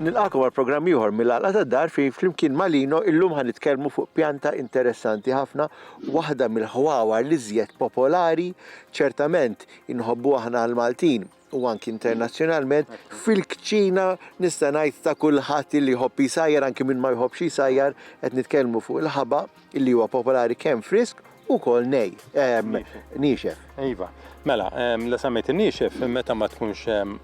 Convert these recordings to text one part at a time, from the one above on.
Nilqakom għal programm ieħor mill-għalqa tad-dar fejn flimkien ma' Lino illum ħan nitkellmu fuq pjanta interessanti ħafna, waħda mill-ħwawar li żjed popolari, ċertament inħobbu aħna l-Maltin u anki internazzjonalment, fil-kċina nista' ngħid ta' kulħadd illi jħobb jisajjar anki min ma jħobbx jisajjar, qed nitkellmu fuq il-ħaba illi huwa popolari kemm frisk ukoll nej, ehm, niexef. Iva, mela, ehm, la semmejt in-niexef meta ma tkunx ehm,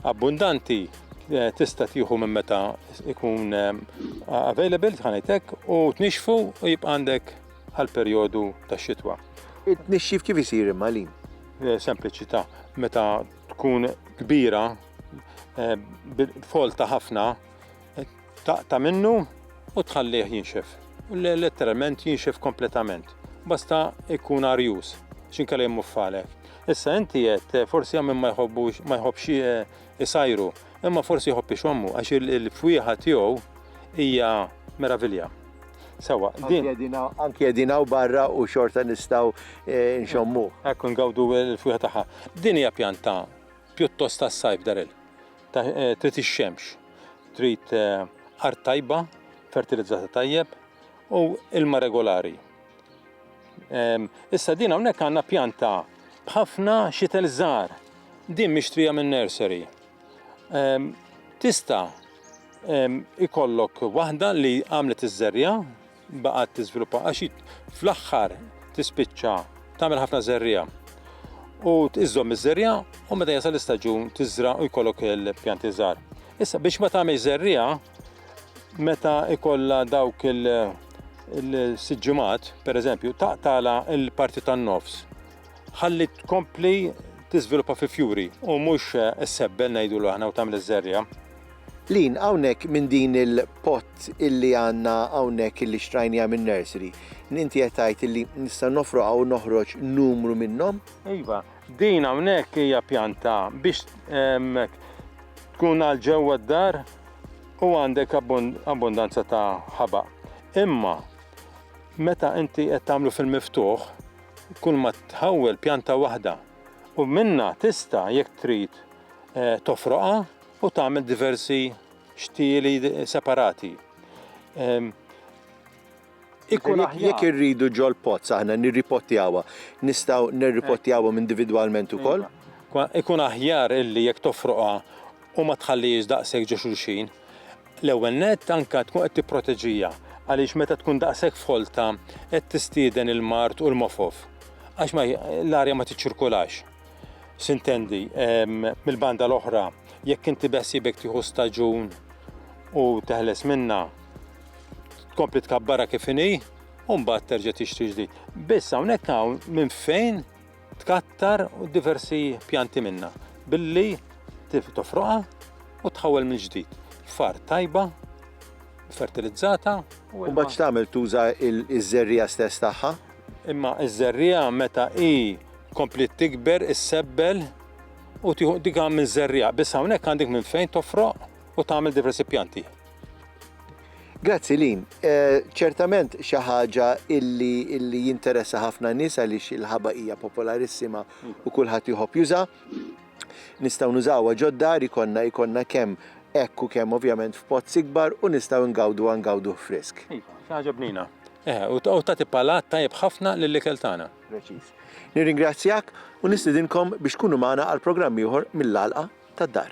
abbundanti eh, tista' tieħu minn meta ikun ehm, available tħanejtek u tnixfu u jibqa' għandek għal perjodu tax-xitwa. It-tnixxif kif isir imma lin? Eh, sempliċità meta tkun kbira eh, folta ħafna eh, taqta minnu u tħallih jinxef. Letteralment jinxef kompletament. Basta ikun arjus, xinkella jemmu falek. Issa inti jett, forsi għamim ma jħobbux, ma jħobbx Isajru, imma forsi jħobb ixommu għax il-fwieħa tiegħu hija meravilja. Sewa, din. Anki qegħdin hawn barra u xorta nistgħu eh, nxommu. Ekku ngawdu l-fwieħa tagħha. Din hija pjanta pjuttost tas-sajf daril. Eh, trid ix-xemx, trid eh, art tajba, fertilizzata tajjeb u ilma regolari. Issa din hawnhekk għandna pjanta b'ħafna xitel żgħar. Din mixtrija minn nursery. Tista' ikollok waħda li għamlet iż-żerja baqgħet tiżviluppa għax fl-aħħar tispiċċa tagħmel ħafna żerja. U iżżomm iż-żerja u meta jasal l-istaġun tiżra u jkollok il-pjanti żgħar. Issa biex ma tagħmel żerja meta ikollha dawk il-siġġimat, per eżempju, taqtala il-parti tan-nofs. Ħalli tkompli tiżviluppa fi fjuri u mhux sebbel ngħidu l aħna u tagħmel iż-żerja. Lin hawnhekk minn din il-pot illi għandna hawnhekk illi xtrajnija minn nursery. Inti qed tgħid illi nista' nofroqha u noħroġ numru minnhom? Iva, Din hawnhekk hija pjanta biex tkun għal ġewwa d-dar u għandek abbundanza ta' ħaba. Imma meta inti qed tagħmlu fil-miftuħ, kull ma tħawwel pjanta waħda u minna tista' jekk trid eh, tofroqa u tagħmel diversi xtieli separati. Ikun aħjar. Jekk irridu ġol-pozz aħna nirripottjawha, nistgħu nirripottjawhom individwalment ukoll? Ikun aħjar illi jekk tofroqha u ma tħallihiex daqshekk ġo xulxin. L-ewwel nett anke tkun qed tipproteġiha għaliex meta tkun daqshekk folta qed tistieden il-mard u l-mofof għax l-arja ma tiċċirkolax. Sintendi, mill-banda l-oħra, jekk inti beħsiebek tieħu staġun u teħles minnha, tkompli tkabbara kif inhi u mbagħad terġa' tixtri ġdid. Biss hawnhekk hawn minn fejn tkattar diversi pjanti minna billi tofroqa u tħawel minn ġdid. Far tajba, fertilizzata. U mbagħad x'tagħmel tuża iż-żerriegħa stess tagħha? Imma iż-żerriegħa meta hi kompliet tikber issebbel u tieħu dik għamil żerriegħa. Biss hawnhekk għandek minn fejn tofroq u tagħmel diversi pjanti. Grazzi Lin, ċertament xi ħaġa illi, illi jinteressa ħafna nies għaliex il-ħaba hija popolarissima u kulħadd jħobb juża. Nistgħu nużawha ġodda ikonna ikonna kemm hekk u kemm ovvjament f'pozz ikbar u nistgħu ngawdu ngawduh frisk. Iva, xi ħaġa bnina. Eh, u tagħti palat tajjeb ħafna lill-ikel tagħna. Preċiż. Nirringrazzjak u nistidinkom biex tkunu magħna għal programm ieħor mill-għalqa tad-dar.